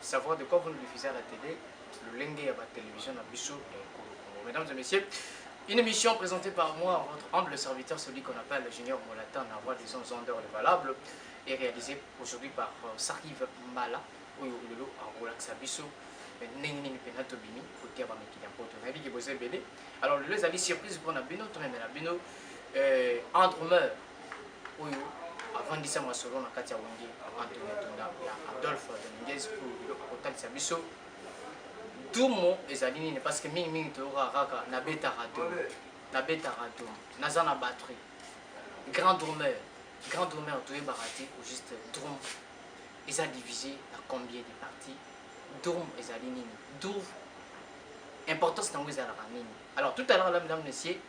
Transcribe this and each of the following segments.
savoir de quoi vous nous diffusez à la télé, lolenge ya ba télévision na biso ya ekolo Congo. Mesdames et messieurs, une émission présentée par moi, votre humble serviteur, celui qu'on appelle le Junior Molatan, la voix des ondes ondeurs, le valable, est réalisée aujourd'hui par euh, Sarive Mala, oyo lelo akolakisa biso eh, ndenge nini mpenza tobimi kotia bamikili ya mpoto nayebi ke boza ebele alors lelo ezali surprise mpona bino tomemela bino eh, entremeur oyo avandisa masolo na kati ya wenge antony atunda ya adolphe dominguez oyo biloko kotalisa biso dumo ezali nini parce que mingimingi toyokaka kaka nabetaka dumo nabetaka dumo naza na batterie grand drumeur grand drumeur toyebaka te au juste drum eza divisé na combien de parties drum ezali nini drum importance nango ezalaka nini alors tout à l'heure lamdame monsieur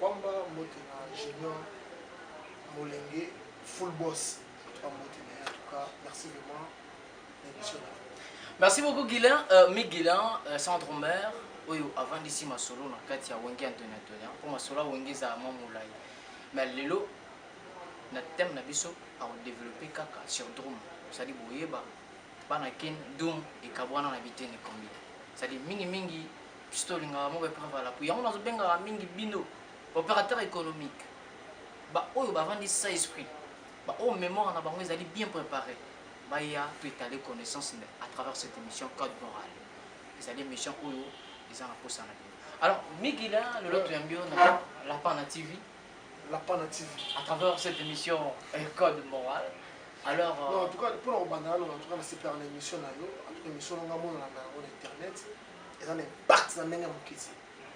Kwamba mbote na junior molenge full boss toi mbote na en tout cas merci vraiment na émission na Merci beaucoup Guilain, euh, Mi Guilain, euh, Centre Mère, oyo avandisi masolo na kati ya Wenge Antonio Antonio, mpo masolo ya Wenge ezala mwa molai. Mais lelo na thème na biso akodeveloppe kaka sur Drum, c'est-à-dire boyeba bana ken Drum ekabwana na biteni combien. C'est-à-dire mingi mingi biso tolingaka moko epreuve à l'appui yango nazobengaka mingi bino opérateur économique baoyo bavandi sa esprit baoyo mémoire na bango ezali bien préparé baya toetale connaissance à travers cette émission code moral ezali émission oyo eza na posa na bino alors migila lelo toyambi yo na lapin na tv lapin na tv à travers cette émission euh, code moral alors euh, non, en tout cas mpona kobanda nano en tout cas nasepelaka na émission na yo en tout cas émission nanga monana na yango na internet eza na impact na ndenge ya moke te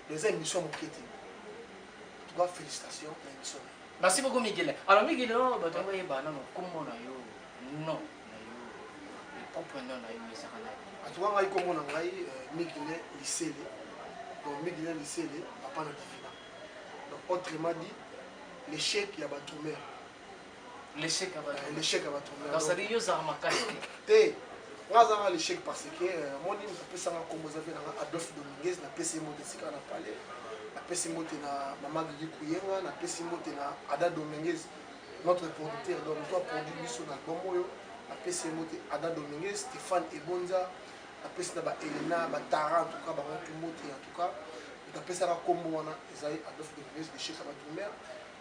donc eza émission ya moke te tuka félicitation na émission merci beaucoup migele alors migele oyo oh, bato yango yeba nano nkombo na yo non na yo propre non na yo ezaka na atuka ngai nkombo na ngai euh, migele lisele donc migele lisele papa na divina donc autrement dit l'échec ya batumeur l'échec ya bato l'échec ya bato donc ça dit yo zanga makasi te nga aza nga l'échec parce que euh, amoni moto apesanga nkombo eza mpe nanga adolphe dominguez napesi ye mbote esika na pale napesi mbote na mama gigi kuyenga napesi mbote na ada dominguez notre producteur donc moto aproduit biso na album oyo napesi ye mbote ada dominguez stéphane ebonza napesi na baelena batara en tout cas bango tu mbote en tout cas napesaka nkombo wana ezali adolphe dominguez l'échec ya bato mare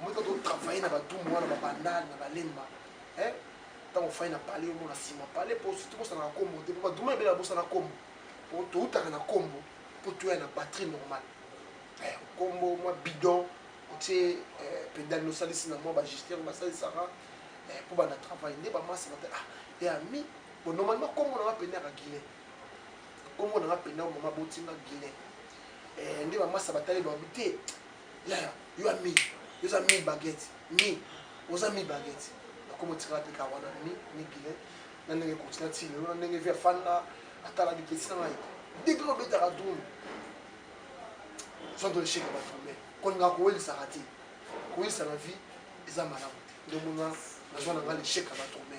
Moto to travailler na batumbu wana ba bandal na balemba. Hein? Tango fai na palais yo mona sima palais po surtout bosa na kombo te po ba duma ebela bosa na kombo. Po to utaka na kombo po to ya na patrie normale. Eh, kombo mwa bidon otie eh, pedale no salisi na mwa ba gesteur ba salisaka eh, po ba na travailler nde ba masa ba ah et ami bon normalement kombo na ba pena ka guilin. Kombo na ba pena mama botinga guilin. Eh, nde ba masa ba tali ba te. yaya yo ami yo oza mi baguette mi oza mi baguette nakoma otikala mpe kaka wana mi mi bilet na ndenge continue ti lelo na ndenge vi afanda atala bipesi na ngai depuis obetaka drum soki toesheke batombe kolinga kowelisaka te koyisa na vie eza malamu te nde omona nazwa na ngai lesheke ya batombe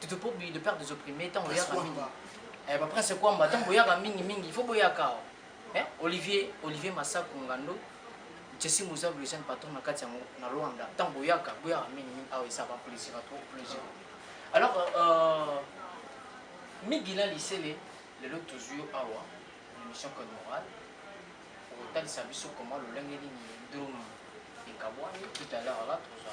Tutu Pobi, le père des opprimés, tango yaka mingi. Eh, ba prince Kwamba, tango yaka mingi mingi, il faut boyaka. Eh, Olivier, Olivier Massako Ngando, Jesse Mouza, le jeune patron na kati yango na Rwanda. Tango yaka, boyaka mingi mingi, ah, ça va plaisir à toi, plaisir. Alors, euh, Migila Lisele, le lot toujours awa, l'émission Code Moral, au total, ça biso comment le lingue est drum et kabouani, tout à l'heure là, tout ça.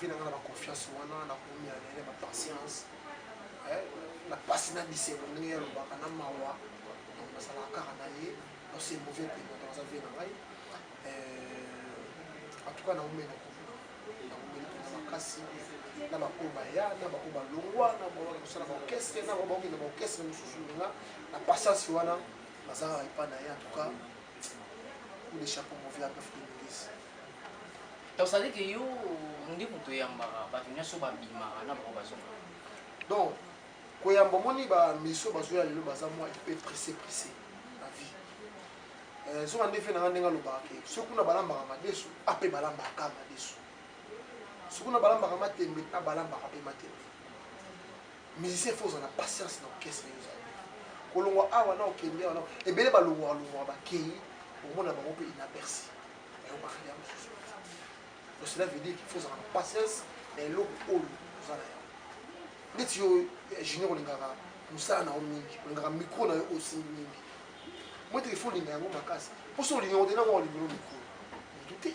vie nanga na baconfiance wana nakomi ya nene bapatience na pasi na bisengo ndenge ye alobaka na mawa donc nazalaka kaka na ye donc c'est mauvais paiement donc aza vie na ngai euh, en tout cas naumeli naumeli mpenza makasi na baoyo baya na baoyo balongwa na baoyo kosala baorchestre na baoyo bakokende baorchestre mosusu nga na patience wana nazalaka epai na ye en tout cas ou les chapeaux mauvais apefu de milice tosali ke yo nde moto oyambaka bato nyonso babimaka na bango bazonga donc koyamba omoni bamiso bazoya lelo baza mwa epe presse presse na vie eh, zoka nde fe na nga ndenge alobaka ke soki kuna balambaka madesu ape balambaka madesu soki kuna balambaka matembe na balambaka mpe matembe Musicien faut ozala patience na orchestre yo ozali. Kolongwa awa na okende awa na ebele balongwa longwa bakeyi omona bango pe inaperçu. Mais on parle ya mususu. Donc cela veut dire qu'il faut ozala na patience na eloko oyo oza na yango. Neti yo eh, junior olingaka mosala na yo mingi, olingaka micro na yo osimbi mingi. Moi te il faut olinga yango makasi. Mpo so olinga yango te na mwa olingelo micro. Mutu te.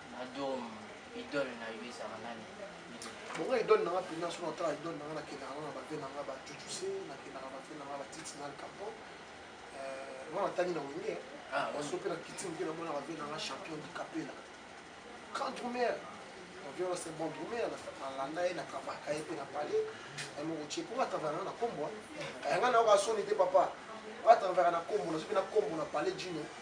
Madom, idole na yo ezala nani? Bongo idole nanga pina so na tala idole nanga na kenda nanga na bave nanga ba chuchuse na kenda na bave nanga ba titi na kapo. Euh, wana tani na wenge. Ah, on sope na kiti mpe na mona bave nanga champion du capella. Grand drummer. On vient c'est bon drummer na landa ye na kabaka ye mpe na palais. Na moko tche ko atava nanga na kombo. Kayanga na yo ka soni te papa. Atava na kombo na sope na kombo na palais junior.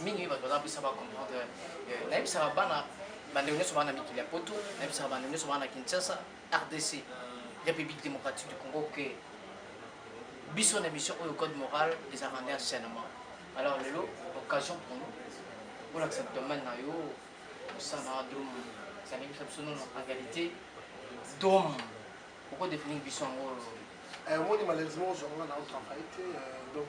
mingi bato baza bisa ba comprendre euh, nayebisaka bana bandeko nyonso bana mikili ya poto nayebisaka bandeko nyonso bana kinshasa rdc république démocratique du congo ke biso na émission oyo code moral ezalaka nde enseignement alors lelo occasion pour nous olakisa domaine na yo osala dom ezalingisa biso nono en réalité dom okodefinir biso yango omoni malheureusement ozwanga na otravaille te donc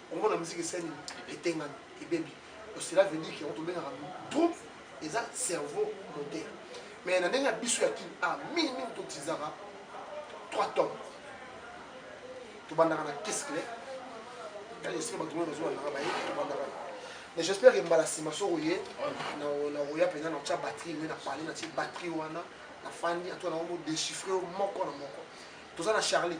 Congo na musique esali etengami ebebi donc cela veut dire que yango tobengaka troupe eza cerveau moteur mais na ndenge ya biso ya kin a mingi mingi totisaka 3 tomes tobandaka na kescle kani esika bato moyo bazobandaka baye tobandaka mais j'espère que mbala nsima soko ye nakoya mpenza na tya batterie nde na parle na tie batterie wana nafandi antoa nango modéchiffre moko na moko toza na charlie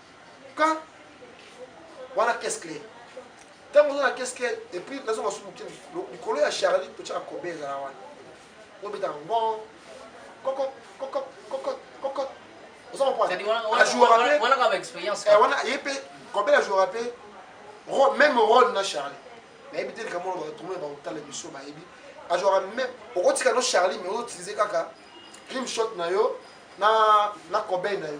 quand wana caisse claire ntango oza na caisse claire epuis nazo masumu moke likolo ya charlie totyaka kobe ezala wana obetaka ngon koko koko koko koko oza kompoawana ye mpe kobe ajouaka mpe même role na charlie nayebi te likambo wana batomona bakotala biso bayebi ajouaka même okotika no charlie mais ozoutilize kaka dream shot na yo na na kobe na yo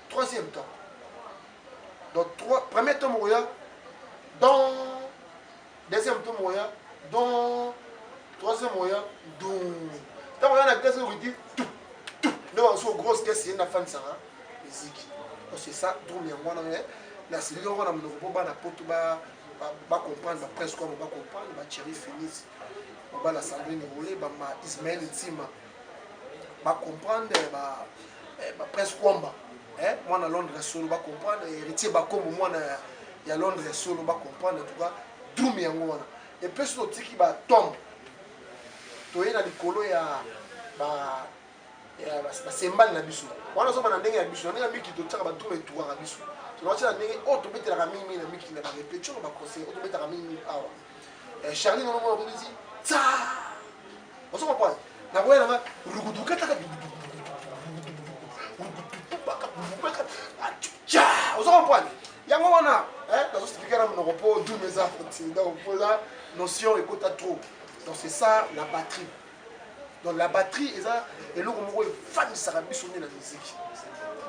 troisième temps donc trois, premier temps moko ya don deuxième temps moko ya don troisième moko ya dun ntango oya na vitesse okiti tu tu nde bamosusu grosse vitesse ye nafanisaka miziki c'est ça drum yango wana me nasilili yango na monoko mpo bana poto bacomprendre bapresse kwamo bacomprendre bachéri finis mobala sandrine role bama ismael ntima ba ba comprendre eh, ba eh, ba presse kwamba eh mwana Londres solo ba comprendre eh, héritier ba kombo mwana ya Londres solo ba comprendre en tout cas doom yango wana et puis so tiki ba tombe toye na likolo ya ba ya basembani na biso wana zoba na ndenge ya biso na ndenge ya miki totyaka ba doom etuwaka biso tonatyaka ndenge oyo oh, tobetelaka mingi mingi na miki na ba repetition na ba conseil oyo oh, tobetaka mingi mingi awa eh, charlie nono mwana kobisi tsaa Ozo comprendre? Na boya na nga rugudu kata kata ozo comprendre? Yango wana eh nazo expliquer na monoko po dum eza kotinda opola notion ekota trop. Donc c'est ça la batterie. Donc la batterie eza eloko moko efandisaka biso nde na miziki.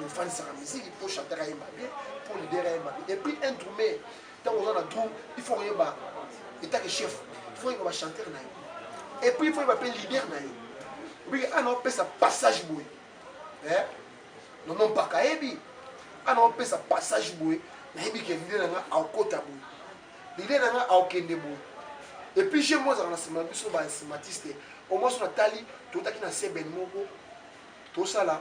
Efandisaka miziki po chanteur ayemba bien, po leader ayemba bien. Et puis un drummer Tango oza na groupe, il faut oyeba état que chef, il faut oyeba ba chanteur na yo. Et puis il faut oyeba pe leader na yo. Obi ana opesa passage boye. Eh? Non non pas kaebi. Ana opesa passage boye. Nayebi que leader na nga akota boye. Leader na nga akende boye. Et puis j'ai moi dans la semaine biso ba smartiste. Au moins sur la tali, tout à qui na seben moko. Tout ça là,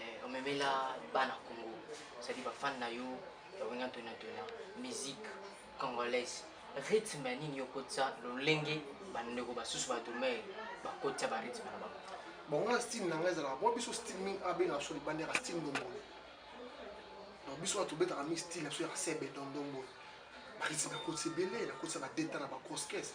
eh, omemela bana congo cetadi bafani na yo ya wenge antoni antona musique congolaise rythme ya nini yo okotisa lolenge bandeko basusu badumere bakotisa barythme na bango bon nga style na ngai ezalaka mpo biso style mingi abengaka biso libanda yaka style ndombolo donc biso wana tobetaka mingi style na biso yaka sebe dondombolo barythme nakotisa ebele nakotisa badeta na bagrosse caisse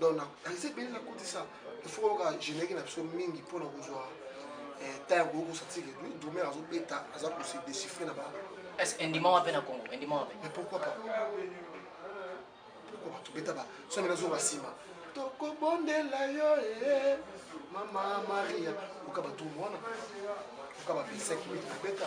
donc nakanisi ebele nakotisa ifo koyoka générique na biso mingi mpo na kozwa eh, ntango ya koyoka osatike drumer azobeta aza kose déchiffre na ba est-ce que endima wape na congo endima wape mais pourquoi pas pourquoi pas tobeta ba so mena zoba nsima tokobondela yo ee eh, mama maria oka badrume wana oka ba 25 minute kobeta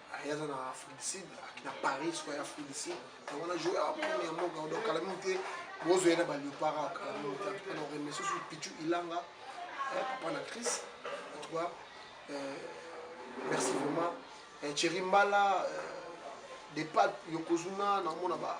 aya aza na afrique du sud na paris soki aya afrique du sud yango na joue akomi ya mboka donc kala mingi te bozo ye na baliopara ah, kala mingi te antuka na oreme susu pichu ilanga eh, papa na crise antuka eh, merci vraiment eh, cheri mbala depat yokozuna namona ba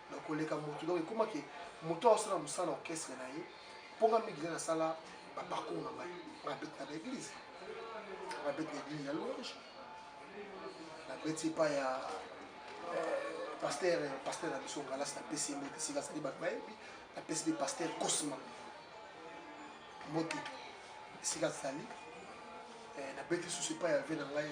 na koleka moto donc ekoma ke moto oyo asala mosala na orchestre na ye mpo nga mingi ngai nasala baparcours na ngai nga beti na baeglise nga beti na eglise ya louange na beti epa ya pasteur pasteur na biso ngalasi napesi ye mbote esika azali bato bayebi napesi mpe pasteur cosma mbote esika azali nabeti susu epai ya ve na ngai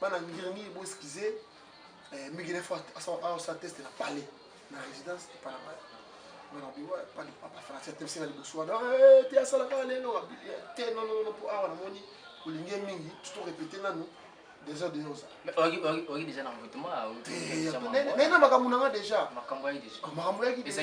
bana ngirngiri bo excuse eh, mingi nefo aosa teste na palais na résidence epana ngai bana biwa epa de papa français atebisi nga liboso wana eh, te asalaka lelo te nonono mpo awa namoni olingi mingi tuto répéte nanu des heures de yoza oki déjà na envoûtement nena makambo na nga déjà makambo yaki déjà makambo yaki déjà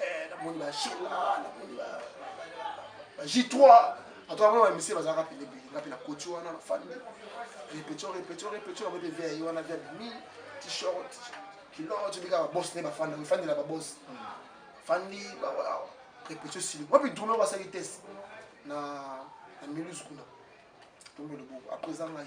eh, namoni ba shela namoni ba j3 atoka mona bamisie bazalaka pelebele nga mpe na koti wana na famille répétition répétition répétition yango mpe via ye wana via bimi t-shirt kilote bika babos ne bafanda mifandela babos fandi répétition sili wapi drumeur basali test na na miluse kuna tombe loboko après eza ngai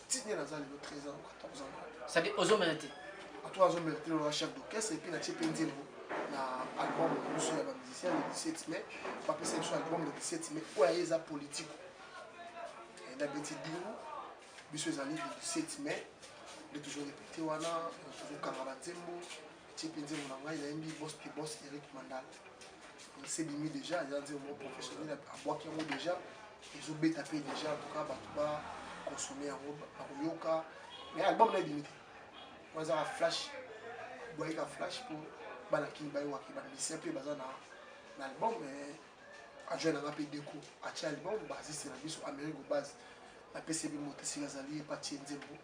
ti nde naza lelo 13 ans 14 ans sadi ozomela te ato azomela te lola chef d'orchestre epuis natie mpe nzembo na album na biso ya bamusicien le 17 mai bapesa biso album le 17 mai oyo aye eza politico na beti dingo biso ezali le 17 mai nde tozorepete wana tozokanga banzembo Petit nzembo na ngai nayembi boss to boss Eric Mandal. Nasebimi deja eza nzembo moko professionnel abwaki yango deja ezobeta mpe deja en tout cas bato ba consommer yango bakoyoka mais album na ebimi te oyo ezaka flash boyeka flash mpo bana kini bayewaki bamisien mpe baza na na album mais ajoine nanga mpe deko atia album basiste na biso amérique obase napesi ebi moto esika azali epatie nzembo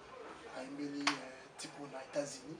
ayembeli eh, tipo na états-unis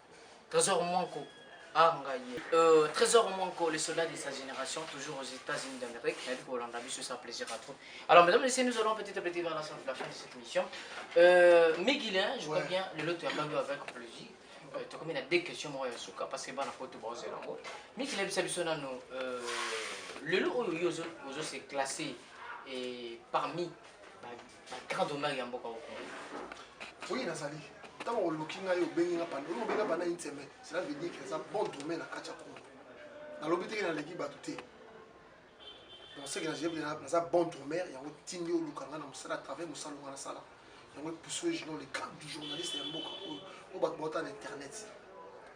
Trésor Mwanko ah ngai ye euh, Trésor Mwanko le soldat de sa génération toujours aux États-Unis d'Amérique nayebi kolanda biso ça plaisir à trop alors mesdames et messieurs nous allons petit à petit vers la fin de cette émission euh, Miguelin je crois bien lelo toyambaki avec plaisir euh, tokomi na deux questions moko ya suka parce que bana poto baozela yango miki nayebisa biso nano euh, lelo oyo yo ozo se classe parmi Grand honneur ya mboka au Congo. Oui, nazali. Ntango oluki ngai obengi nga panda, oyo obenga panda une semaine, cela veut dire que eza bon domaine na kati ya Congo. Nalobi teke naleki bato te. Donc ce que najebi naza bon domaine, yango tindi oluka nga na mosala à travers mosala nga nasala. Yango epusu ejuno le cadre du journaliste ya mboka oyo, oyo bato bauta na internet.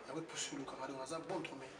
Yango epusu oluka nga, donc naza bon domaine.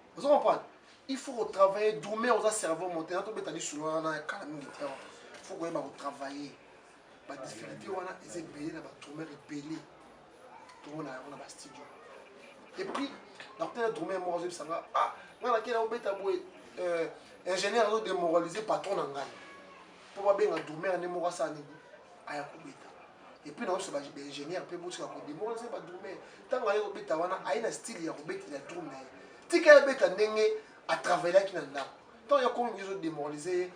ozo comprendre il faut ko travailler dur mais oza cerveau monté na tobeta lisolo wana ya kala mingi te il faut koyeba ko travailler ba difficulté wana eza ebele na batrumeur ebele tomona yango na bastudio et puis nakotala drumeur moko azoyebisa nga ah ngai nakei nakobeta boye euh, ingénieur azo démoralise patron na ngai mpo babenga drumeur nde moko asala nini aya kobeta epuis naoso ba ingénieur mpe botika kodemora nse badrume ntango aye kobeta wana aye na style ya kobetela drum na ye tika ye abeta ndenge atravaillaki na ndako ntango ya komi bizo demoralise ye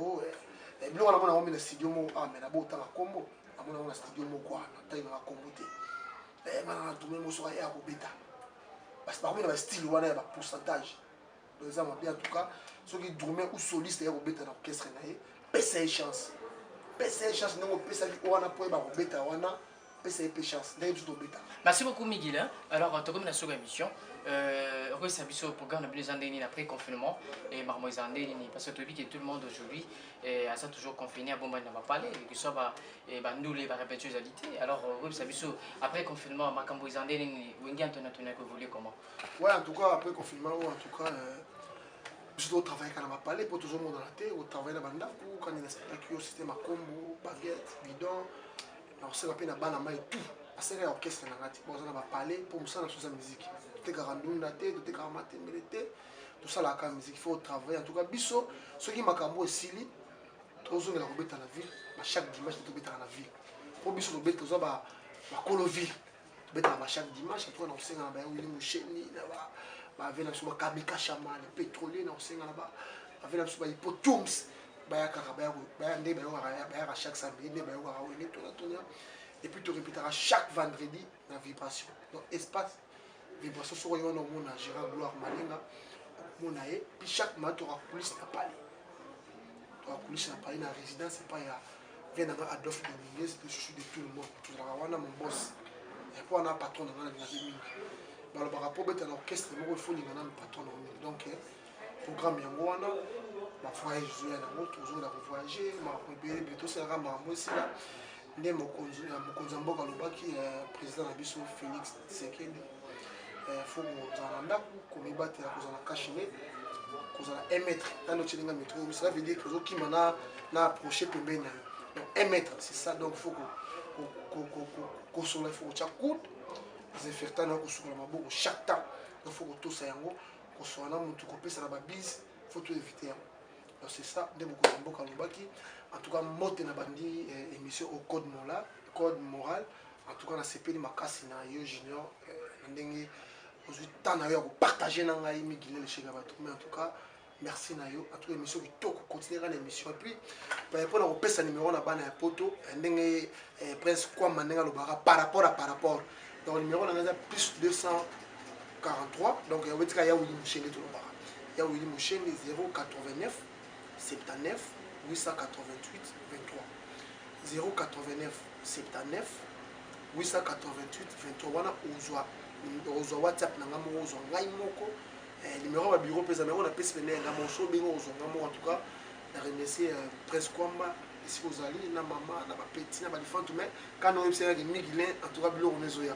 oh, eh, eh, biloko namona yango mi na studio moko ah me nabo otanga nkombo namona yango na studio moko wana ntangi nanga nkombo te eh, mana na drume mosoka ye akobeta basi bakomi na bastyle wana ya bapourcentage donc eza mabe en tout cas soki drume ou soliste ya kobeta na orchestre na ye pesa ye chance pesa ye chance ndenge opesaki wana mpo ye bakobeta wana pesa ye mpe chance ndenge biso tobeta merci beaucoup migile alors tokomi na soko ya émission euh, okoyesa biso programme na bino eza ndenge nini après confinement e makambo eza ndenge nini parce que toyebi ke tout le monde aujourd'hui euh, aza toujours confiné abombani na bapale ekesoi euh, bandule barepétio ezali te alors okoyebisa biso après confinement makambo eza ndenge nini wenge antoni antoni akoevolue comment Ouais, en tout cas, après confinement, en tout cas, euh, biso totravaillaka na bapale mpo tozomonana te otravaille na bandako kani na spectacle yo système akombo baguette bidon na koseka mpe na bana mai tout aseka ya orchestre na ngai te baoza na bapale mpo mosala soza miziki totekaka ndunda te totekaka matembele te tosalaka miziki fo otravaille en tout cas biso soki makambo esili tozongela kobeta na ville chaque dimanche tobetaka na ville mpo biso tobeta toza bakolo ville betaka ba chaque dimanche en tout cas na kosenga na ba Willy Musheni na ba ba vela biso ba Kamika Shaman pétrolier na kosenga na ba ba vela biso ba Hippotums bayakaka baya nde bayokaka bayaka chaque samedi nde bayokaka oyo nde tona tona et puis to répétaka chaque vendredi na vibration donc espace vibration soko yo wana omona Gérard Gloire Malinga omona ye puis chaque mois toka coulisse na palais toka coulisse na palais na résidence epai ya vie nanga adolphe dominguez le chouchou de tout le monde tozalaka wana mobos yango wana patron nanga nalingaki mingi balobaka mpo obeta na orchestre moko efoninga nanu patron nango mingi donc eh, programme yango wana bavoyage ezoya nango tozongela kovoyage makambo ebele ebele tosalaka makambo esila nde mokonzi ya mboka alobaki eh, président na biso félix Tshisekedi eh, fumu kozala na ndako komibatela kozala kashine kozala 1 mètre nano otye ndenge metro cela veut dire ozokima na na approche pembeni na yo donc 1 mètre c'est ça donc faut kosola faut kotya coude desinfectant na yo kosukola maboko chaque temps donc faut kotosa yango kosola na motu kopesa na babise faut to éviter yango donc c'est ça nde mokonzi ya mboka alobaki en tout cas mbote na bandi eh, émission au code moral code moral En tout cas nasepeli makasi na yo Junior na ndenge ozwi temps na yo ya kopartage na ngai migile lesheke ya bato mais en tout cas merci na yo en tout cas émission kitoko continue kaka na émission epuis mpo na kopesa numéro na bana ya poto ndenge prince kwama ndenge alobaka par rapport à par rapport donc numéro na ngai eza plus 243 donc yango etika ya wili moshende tolobaka ya wili moshende 089 79 888 23 089 79 888 23 wana ozwa ozwa whatsapp na ngai moko ozwa ngai moko eh, numero ya babiro mpe eza nango napesi pene ya ngai moko so obenge ozwa ngai moko en tout cas na remercie euh, prince kwamba esika ozali na mama na bapeti na balifantu mai kana oyebisaki migilin en tout cas biloko mezoya